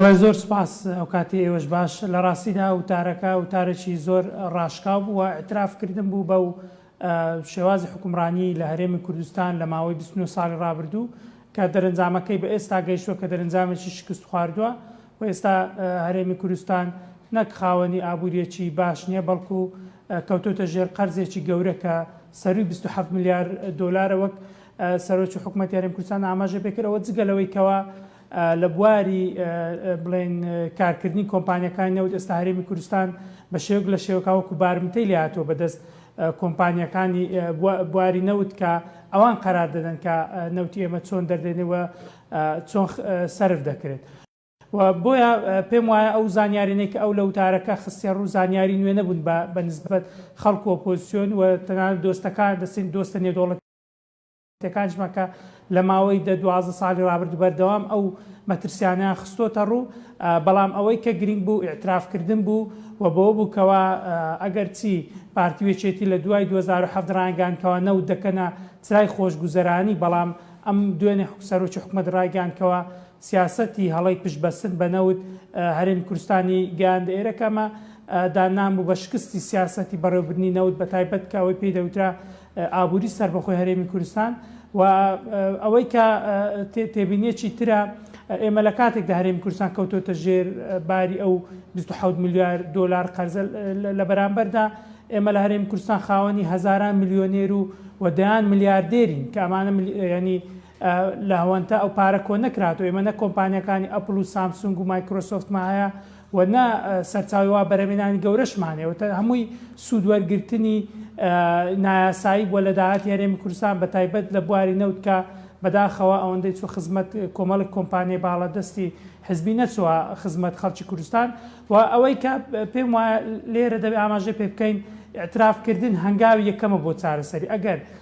بەڵێ زۆر سوپاس ئەوکاتی ئێوەش باش. لە ڕاستیدا وتارەکە وتارێکی زۆر ڕاشکاو بوو و ئیعتراف کردن بوو بەو شێوازی حوکمڕانی لە هەرێمی کوردستان لە ماوەی بیست و نۆ ساڵی ڕابردوو کە دەرەنجامەکەی بە ئێستا گەیشتووە کە دەرەنجامێکی شکست خواردووە و ئێستا هەرێمی کوردستان نەک خاوەنی ئابووریەکی باش نیە بەڵکو کەوتۆتە ژێر قەرزێکی گەورە کە سەرووی بیست و حەفت ملیار دۆلارە وەک سەرۆکی حکومەتی هەرێم کوردستان ئاماژەی پێکرد ئەوە جگە لەوەی کەوا لە بواری بڵێن کارکردنی کۆمپانیەکانی نەوت ئێستا هەرێمی کوردستان بە شێوک لە شێوکا وەکو بارمتەی لێهاتوە بەدەست کۆمپانیەکانی بواری نەوت کە ئەوان قەرار دەدەن کە نەوتی ئێمە چۆن دەردێنەوە چۆن سرف دەکرێت. و بۆیە پێم وایە ئەو زانیارێنەی کە ئەو لە وتارەکە خستیە ڕوو زانیاری نوێ نەبوون بە بە نسبەت خەڵک و ئۆپۆزسیۆن و تەنانەت دۆستەکان دەستین دۆستە نێودەوڵەتی تێکانچ مەکە، لە ماوەی دە دوازدە ساڵی ڕابردوو بەردەوام ئەو مەترسیانەیان خستۆتە ڕوو، بەڵام ئەوەی کە گرینگ بوو ئیعتراف کردن بوو و بەوە بوو کەوا ئەگەر چی پارتی و یەکێتی لە دوای دوو هەزار و حەڤدە ڕایانگەیاند کەوا نەوت دەکەنە چرای خۆشگوزەرانی بەڵام ئەم دوێنێ سەرۆکی حکومەت ڕایگەیاند کەوا سیاسەتی هەڵەی پشت بەستن بە نەوت هەرێمی کوردستانی گەیاندە ئێرە کە ئەمە داننان بوو بە شکستی سیاسەتی بەڕێوەبردنی نەوت بە تایبەت کە ئەوەی پێی دەوترا ئابووری سەربەخۆی هەرێمی کوردستان و ئەوەی کە تێبینیەکی ترە ئێمە لە کاتێکدا هەرێمی کوردستان کەوتۆتە ژێر باری ئەو 26 میلیار دۆلار قەرزە لە بەرامبەردا ئێمە لە هەرێمی کوردستان خاوەنی هەزاران میلیۆنێر و و دەیان میلیاردێرین کە ئەمانە ینی لە هەوەنتە ئەو پارە کۆ نەکرات و ئێمە نە کۆمپانیەکانی ئەپل و سامسونگ و مایکرۆسۆفتمان هەیە و نە سەرچاوەی وا بەرهەمێنانی گەورەشمان هەیە و هەمووی سوودوەرگرتنی نایاسایی بووە لە داهاتی هەرێمی کوردستان بە تایبەت لە بواری نەوت کە بەداخەوە ئەوەندەی چووە خزمەت کۆمەڵێک کۆمپانیای باڵادەستی حزبی نەچووە خزمەت خەڵکی کوردستان و ئەوەی کە پێم وایە لێرە دەبێت ئاماژەی پێ بکەین ئیعترافکردن هەنگاوی یەکەمە بۆ چارەسەری ئەگەر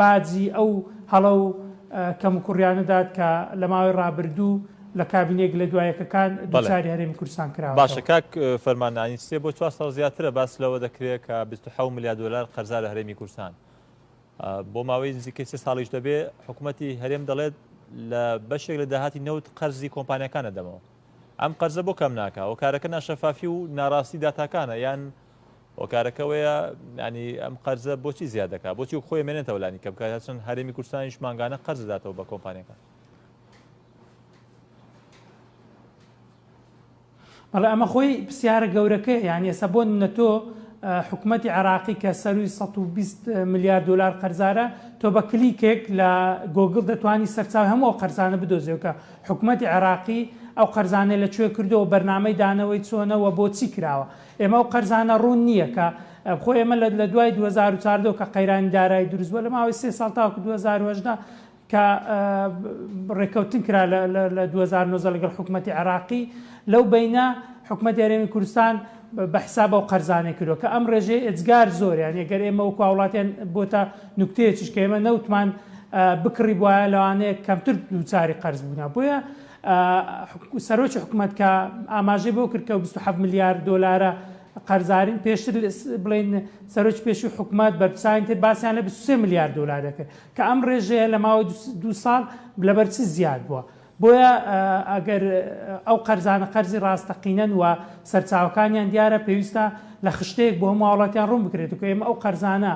باجی ئەو هەڵە و کەموکوڕیانە دات کە لە ماوەی ڕابردوو لە کابینە یەک لە دوا یەکەکان دووچاری هەرێمی کوردستان کراوەتەوە. باشە کاک فەرمان نانی سێ بۆ چوار ساڵ زیاترە باس لەوە دەکرێت کە بیست و حەوت ملیار دۆلار قەرزارە هەرێمی کوردستان بۆ ماوەی نزیکەی سێ ساڵیش دەبێ حکوومەتی هەرێم دەڵێت لە بەشێک لە داهاتی نەوت قەرزی کۆمپانیەکان دەدەمەوە ئەم قەرزە بۆ کەم ناکە و کارەکە ناشەفافی و ناڕاستی داتاکانە یان هۆکارەکە ئەوەیە یانی ئەم قەرزە بۆچی زیاد دەکات بۆچی و خۆی مێنێتەوە لانی کەم کار هەچەند هەرێمی کوردستانیش مانگانە قەرز دەداتەوە بە کۆمپانیەکە بەڵێ ئەمە خۆی پرسیارە گەورەکە یانی ئێستا بۆ نەتۆ حکوومەتتی عراقی کە سەروی 120 میلیارد دلار قەرزارە تۆ بە کلیکێک لە گۆگل دەتوانانی سەرچاو هەموو قەرزانە بدۆزیەوەکە حکوومەتتی عراقی ئەو قەرزانە لە کوێ کردەوە بەرنمەی دانەوەی چۆنەوە بۆچی کراوە ئێمە ئەو قەرزانە ڕوون نییە کە خۆ ئێمە لە لە دوای 2014 کە قەیرانی دارایی دروست بووە لە ماوەی سێ ساڵ تاوەکو 2018 کە ڕێککەوتن کرا لە 2009 لەگەڵ حکوومەتتی عێراقی لەو بینە حکوومەت یارێمی کوردستان بە حساب ئەو قەرزانە کردو کە ئەم ڕێژەی ئەجگار زۆریان یەگەر ئێمە و کواوڵاتیان بۆتە نوکتەیەکیش کە ئێمە نەوتمان بکڕی بواە لەوانەیە کەمتر دووچاری قەرز بوونا بۆیە سەرۆکی حکومەت کە ئاماژەی بۆ کرد کە 27 ملیار دۆلارە قەرزارین پێشتر بڵین سەرۆکی پێشوی حکومت بەرپسانی تر باسیان لە 23 ملیار دلار دەکرد کە ئەم ڕێژەیە لە ماوەی دو ساڵ لەبەر چ زیاد بووە بۆیە ئەگەر ئەو قەرزانە قەرزی ڕاستەقینەن و سەرچاوەکانیان دیارە پێویستە لە خشتەیەک بۆ هەمو وڵاتیان ڕوون بکرێت و کە ئێمە ئەو قەرزانە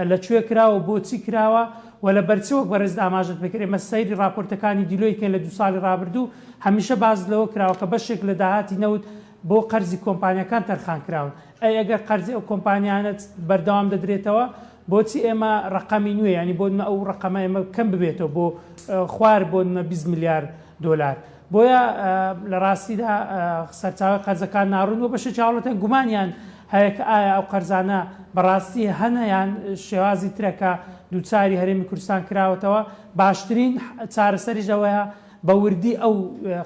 لە کوێ کراوە و بۆچی کراوە و لە بەر چ وەک بەڕێزت ئاماژەت پێکرد ئێمە سەیری ڕاپۆرتەکانی دیلۆیت کەین لە دوو ساڵی ڕابردوو هەمیشە باست لەوە کراوە کە بەشێک لە داهاتی نەوت بۆ قەرزی کۆمپانیاکان تەرخان کراون ئەی ئەگەر قەرزی ئەو کۆمپانیانە بەردەوام دەدرێتەوە بۆچی ئێمە ڕەقەمی نوێ یانی بۆ نمە ئەو ڕەقەمە ئێمە کەم ببێتەوە بۆ خوار بۆ نمە بیست ملیار دۆلار بۆیە لە ڕاستیدا سەرچاوەی قەرزەکان ناڕوون بۆ بەشێکی هاوڵاتیان گومانیان هەیە کە ئایا ئەو قەرزانە بەڕاستی هەنە یان شێوازی ترە کە دووچاری هەرێمی کوردستان کراوەتەوە باشترین چارەسەریش ئەوەیە بە وردی ئەو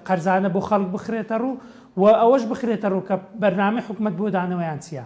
قەرزانە بۆ خەڵک بخرێتە ڕوو و ئەوەش بخرێتە ڕوو کە بەرنامەی حکومەت بۆ دانەوەیان چییە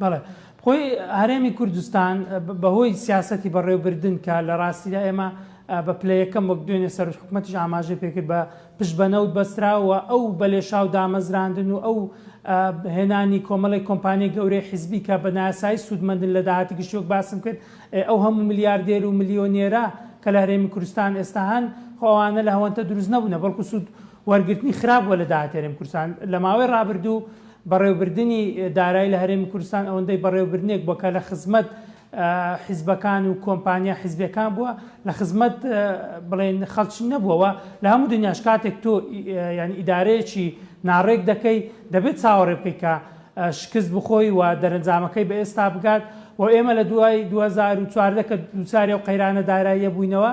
بەڵێ خۆی هەرێمی کوردستان بەهۆی سیاستی بەڕێوبردن کە لە ڕاستیدا ئێمە بە پلە یەکەم وەک دوێنێ سەر حکوومەتیش ئاماژە پێکرد بە پشت بە نەوت بەستراوە ئەو بەلێشاو دامەزراندن و ئەو هێنانی کۆمەڵی کۆمپانیای گەورەی حیزبی کە بە ناسایی سوودمەندن لە داهاتی گشتی وەک باسم کرد ئەو هەموو ملیاردێر و ملیۆنێرە کە لە هەرێمی کوردستان ئێستا هەن خۆوانە لە هەوەنتە دروست نەبوونە بەڵکو سوود وەرگرتنی خراپ بووە لە داهاتی هەرێمی کوردستان لە ماوەی ڕابردوو بەڕێوەبردنی دارایی لە هەرێمی کوردستان ئەوەندەی بەڕێوەبردنێک بووە کە لە خزمەت حیزبەکان و کۆمپانیا حیزبیەکان بووە لە خزمەت بڵێن خەڵکی نەبووەوە لە هەموو دنیاش کاتێک تۆ یعنی ئیدارەیەکی ناڕێک دەکەی دەبێت چاوەڕێ بکەیت کە شکست بخۆی و دەرەنجامەکەی بە ئێستا بگات و ئێمە لە دوای 2014 کە دووچاری و قەیرانە داراییە بووینەوە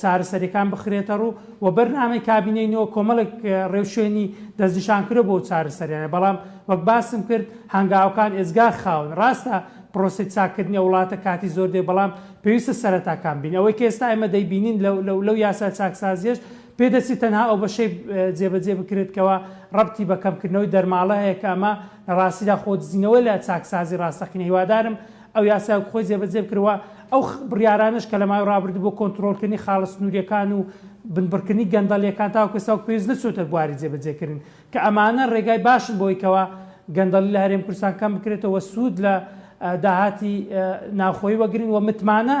چارەسەریەکان بخرێتەڕوو و بەرنامەی کابینەی نۆ کۆمەڵێک ڕێوشوێنی دەستنیشانکرۆ بۆ چارەسەریانە بەڵام وەک باسم کرد هەنگاوەکان ئێجگا خاون ڕاستە پرۆسەی چاککردنی ئەو وڵاتە کاتی زۆر دەوێت بەڵام پێویستە سەرەتاکان بین ئەوەی کە ئێستا ئێمە دەیبینین لەو یاسا چاکسازیەش پێدەچی تەنها ئەو بەشەی جێبەجێ بکرێت کەوا ڕەبتی بە کەمکردنەوەی دەرماڵە هەیە کە ئەمە لە ڕاستیدا خۆدزینەوە لە چاکسازی ڕاستەقینە هیوادارم ئەو یاسایەک خۆی جێبەجێ بکرێت و ئەو بڕیارانەش کە لە ماوەی ڕابردوو بۆ کۆنترۆڵکردنی خاڵە سنوورییەکان و بنبڕکردنی گەندەڵییەکان تاوەکو ئێستا وەک پێویست نەچووەتە بواری جێبەجێکردن، کە ئەمانە ڕێگای باشن بۆی کەوا گەندەڵی لە هەرێم کوردستان کەم بکرێتەوە و سوود لە داهاتی ناوخۆیی وەگرن و متمانە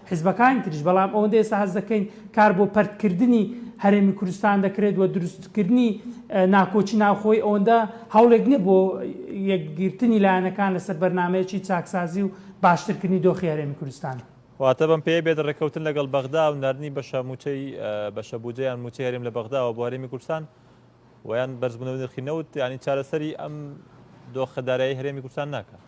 حیزبەکانی تریش، بەڵام ئەوەندە ئێستا هەست دەکەین کار بۆ پەرتکردنی هەرێمی کوردستان دەکرێت و دروستکردنی ناکۆکی ناوخۆیی ئەوەندە هەوڵێک نییە بۆ یەکگرتنی لایەنەکان لەسەر بەرنامەیەکی چاکسازی و باشترکردنی دۆخی هەرێمی کوردستان. واتە بەم پێیە بێت ڕێککەوتن لەگەڵ بەغدا و ناردنی بەشە مووچەی، بەشە بودجە یان مووچەی هەرێم لە بەغداوە بۆ هەرێمی کوردستان و یان بەرزبوونەوەی نرخی نەوت، یانی چارەسەری ئەم دۆخە دارایەی هەرێمی کوردستان ناکات.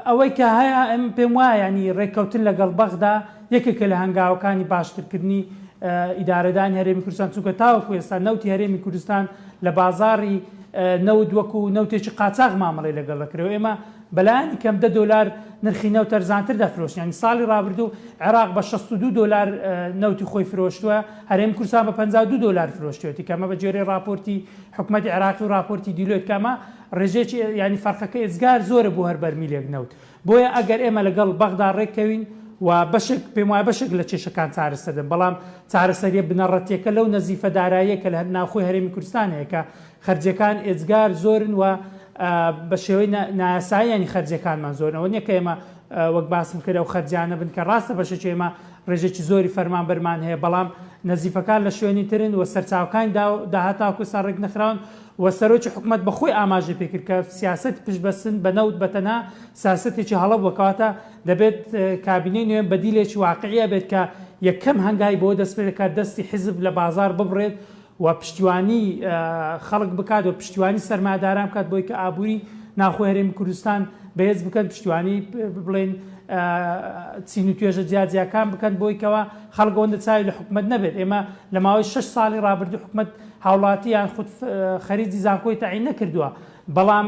ئەوەی کە هەیە ئەم پێم وایە ینی ڕێککەوتن لەگەڵ بەغدا یەکێکە لە هەنگاوەکانی باشترکردنی ئیدارەدانی هەرێمی کوردستان چونکە تاوەکو ئێستا نەوتی هەرێمی کوردستان لە بازاری نەوت وەکو نەوتێکی قاچاق مامەڵی لەگەڵ دەکرێت ئێمە بەلایانی کەم دە دلار نرخی نەوت تەرزانتر دەفرۆشنیان ساڵی رابردوو عێراق بە 62 دلار نەوتی خۆی فرۆشتووە هەرێم کورسان بە 52 دلار فرۆشتێتی کەمە بە جێری راپۆرتی حکومەتی عێراقی و ڕاپۆرتی دیلۆیت کە ئەمە ڕێژەیەکی یانی فەرقەکەی ئێجگار زۆرە بۆ هەر بەرمیلێک نەوت بۆیە ئەگەر ئێمە لەگەڵ بەغدا ڕێککەوین و بەشێک پێم وایە بەشێک لە کێشەکان چارەسەر دەبن بەڵام چارەسەریە بنەڕەتیەکە لەو نەزیفە داراییە کە لە هەر ناوخۆی هەرێمی کوردستان هەیە کە خەرجیەکان ئێجگار زۆرن و بە شێوەی نایاساییانی خەرجیەکانمان زۆرنەوە نیە کە ئێمە وەک باسم کرد ئەو خەرجیانە بن کە ڕاستە بەشێکی ئێمە ڕێژێکی زۆری فەرمانبەرمان هەیە بەڵام نەزیفەکان لە شوێنی ترن و سەرچاوکانی داهاتاکو سا ڕێک نەخراون و سەرۆکی حکوومەت بەخۆی ئاماژە پێکرد کە سیاست پشبەستن بە نەوت بەتەنها سیاستێکی هەڵە بووکەواتە دەبێت کابینەی نوێن بەدیلێکی واقعە بێت کە یەکەم هەنگای بۆ دەست پێ دەکات دەستی حزب لە بازار ببڕێت و پشتیوانی خەڵک بکات و پشتیوانی سەرمایەداران بکات بۆی کە ئابووری ناوخۆی هەرێمی کوردستان بەهێز بکەن پشتیوانی بڵێن چین و توێژە جیاجیاکان بکەن بۆی کەەوە خەڵک ئەوەندە چاوی لە حکومت نەبێت ئێمە لە ماوەی 6 ساڵی رابردوو حکومت هاوڵاتی یان خود خەریجی زانکۆی تەعین نەکردووە بەڵام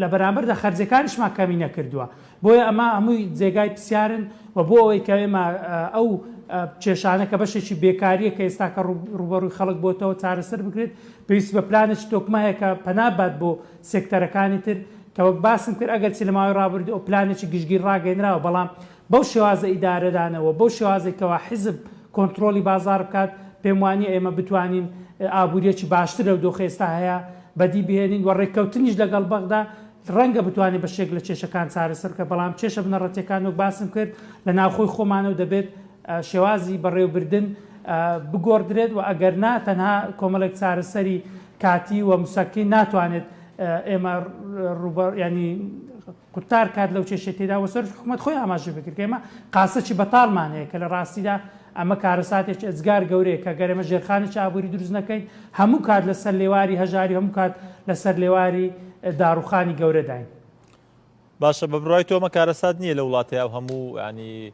لە بەرامبەر دە خەرجەکانیشمان کەمی نەکردووە بۆیە ئەمە هەمووی جێگای پرسیارن و بۆ ئەوەی کە ئێمە ئەو کێشانە کە بەشێکی بێکارییە کە ئێستاکە ڕوبەڕووی خەڵک بۆتەوە چارەسەر بکرێت پێویست بە پلانێکی تۆکمە هەیە کە پەنا بات بۆ سێکتەرەکانی تر کە وەک باسم کرد ئەگەر چی لە ماوەی ڕابردوو ئەو پلانێکی گشتگیر ڕاگەێنراوە بەڵام بەو شێوازە ئیدارەدانەوە بەو شێوازی کەوا حیزب کۆنتترۆلی بازار بکات پێم وانە ئێمە بتوانین ئابوووریەکی باشتر لەو دۆخ ئێستا هەیە بەدی بهێنین و ڕێککەوتنیش لەگەڵ بەغدا ڕەنگە بتوانێت بەشێک لە کێشەکان چارەسەر بکات، بەڵام کێشە بنەڕەتییەکان وەک باسم کرد لە ناوخۆی خۆمانە و دەبێت شێوازی بەڕێوەبردن بگۆڕدرێت و ئەگەر نا تەنها کۆمەڵێک چارەسەری کاتی و مسەکین ناتوانێت ئێمە ڕووبەڕووی یانی قورتار کات لەو کێشەی تێدا و سەرۆکی حکوومەت خۆی ئاماژەی بە کرد کە ئێمە قاسەکی بەتاڵمان هەیە کە لە ڕاستیدا ئەمە کارەساتێکی ئێجگار گەورەیە کە گەر ئێمە ژێرخانێکی ئابووری دروست نەکەین هەموو کات لە سەر لێواری هەژاری و هەموو کات لە سەر لێواری داڕووخانی گەورەداین. باشە بە بڕوای تۆ ئەمە کارەسات نییە لە وڵاتێ ئەو هەموو یانی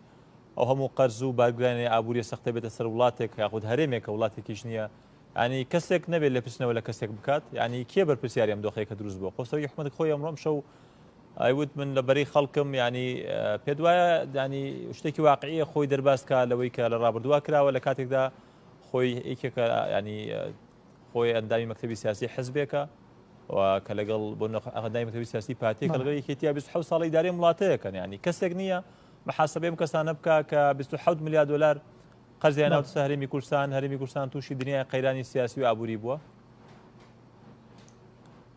ئەو هەموو قەرز و بارگرانی ئابووریە سەختە بێتە سەر وڵاتێک یاخود هەرێمێکە وڵاتێکیش نییە ینی کەسێک نەبێت لە پرسنەوە لە کەسێک بکات ینی کێ بەرپسیاری ئەم دۆخەیەکە دروست بۆ خۆسەوی حکومەت خۆی ئەمڕۆم شەو ئەیوت من لە بەری خەڵکم ینی پێ دوایە دانی شتێکی واقعیە خۆی دەرباز کا لەوەی کە لە ڕابردووا کراوە لە کاتێکدا خۆی یەکێکە ینی خۆی ئەندامی مەکتتەبی سیاسی حزبێکە کە لەگەڵ بۆ ئەندای مەکتتەبی سیاسی پارتی کە لەگەڵ یەکێتیا 26 ساڵی دارێ وڵاتەیەکەن ینی کەسێک نییە محاسبەی ئەم کەسانە بکە کە 26 میلیارد دلار قەرزیان ناوت سەهرمی کوردستان هەرمی کوردستان تووشی دنیای قەیرانی سیاسی و ئابووری بووە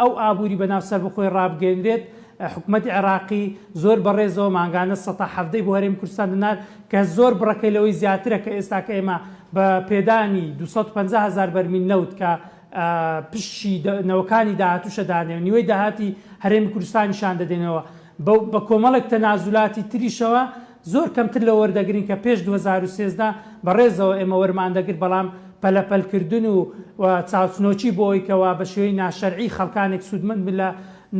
ئەو ئابوری بەناو سەربەخۆی ڕابگەینرێت، حکومەتی عێراقی زۆر بەڕێزەوە مانگانە سەتا حەڤدە ی بۆ هەرێمی کوردستان دەنارد کە زۆر بڕەکەی لەوەی زیاترە کە ئێستاکە ئێمە بە پێدانی دوو سەد و پەنجا هەزار بەرمیل نەوت کە پشکی نەوەکانی داهاتوشە دانێ و نیوەی داهاتی هەرێمی کوردستانیشان دەدەینەوە بەو بە کۆمەڵێک تەنازولاتی تریشەوە زۆر کەمتر لەوە وەردەگرین کە پێش دوو هەزار و سێزدە بە ڕێزەوە ئێمە وەرمان دەگرت بەڵام پەلە پەل کردن و و چاوچنۆکی بۆ ئەوی کەوا بە شێوەی ناشەرعی خەڵکانێک سوودمەند بن لە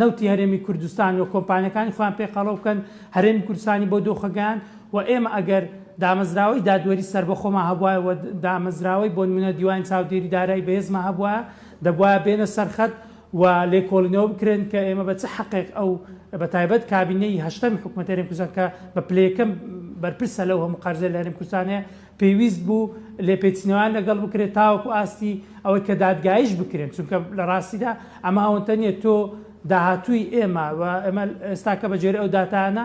نەوتی هەرێمی کوردستان و کۆمپانیەکانی خۆیان پێ قەڵەو بکەن هەرێمی کوردستانی بەو دۆخە گەیاند و ئێمە ئەگەر دامەزراوەی دادوەری سەربەخۆمان هەبوایە و دامەزراوەی بۆنمونە دیوانی چاودێری دارایی بەهێزمان هەبوایە دەبوایە بێنە سەرخەت و لێکۆڵینەوە بکرێن کە ئێمە بە چ حەقێک ئەو بە تایبەت کابینەی هەشتەمی حکومەتی هەرێم کوردستان کە بە پلە یەکەم بەرپرسە لەو هەموو قەرزەی لە هەرێم کوردستان هەیە پێویست بوو لێپێچینەوەیان لەگەڵ بکرێت تاوەکو ئاستی ئەوەی کە دادگاییش بکرێن چونکە لە ڕاستیدا ئەمە ئەوەنتە نییە تۆ داهاتووی ئێمە و ئێمە ئێستاکە بە گوێرەی ئەو داتایانە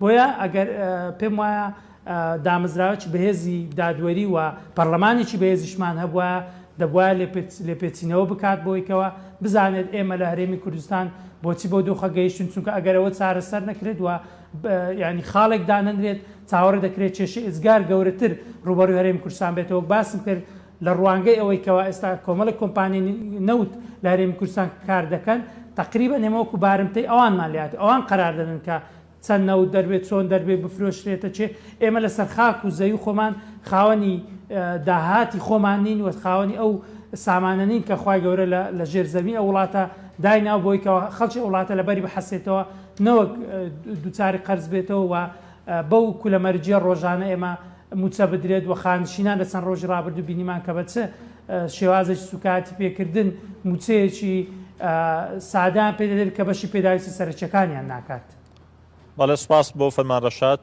بۆیە ئەگەر پێم وایە دامەزراوەکی بەهێزی دادوەری و پەرلەمانێکی بەهێزیشمان هەبووە دەبواە لێپێچینەوە بکات بۆیکەوە بزانێت ئێمە لە هەرێمی کوردستان بۆچی بۆ دۆخە گەیشتن چونکە ئەگەرەوە چارەسەر نەکرێت و ینی خاڵێک دانەنرێت چاوەڕ دەکرێت کێشی ئزگار گەورەتر ڕوبەروی هەرێم کوردستان بێتەوە باسم کرد لە ڕوانگەی ئەوەی کەوا ئێستا کۆمەڵی کۆمپانی نەوت لە هەرێمی کوردستان کار دەکەن تقریبا نێمەوەکو بارمتەی ئەوانمان لات ئەوان قرار دەدن کە چەند نەوت دەربێ چۆن دەربێ بفرۆشرێتە کێ ئێمە لەسەر خاک و زەوی خۆمان خاوەنی داهاتی خۆمان نین و خاوەنی ئەو سامانە نین کە خوای گەورە لە ژێر زەوی ئە وڵاتە دایناو بۆی کە خەڵکی وڵاتە لە بەری بحەسێتەوە نەوەک دووچاری قەرز بێتەوە و بەو کولە مەرجیە ڕۆژانە ئێمە موچە بدرێت و خانشینان لە چەند ڕۆژی ڕابردوو بینیمان کە بە چ شێوازێکی سووکایەتی پێکردن، مووچەیەکی سادەیان پێ دەدرێت کە بەشی پێداویستە سەرەکییەکانیان ناکات. بەڵێ سوپاس بۆ فەرمان ڕەشاد.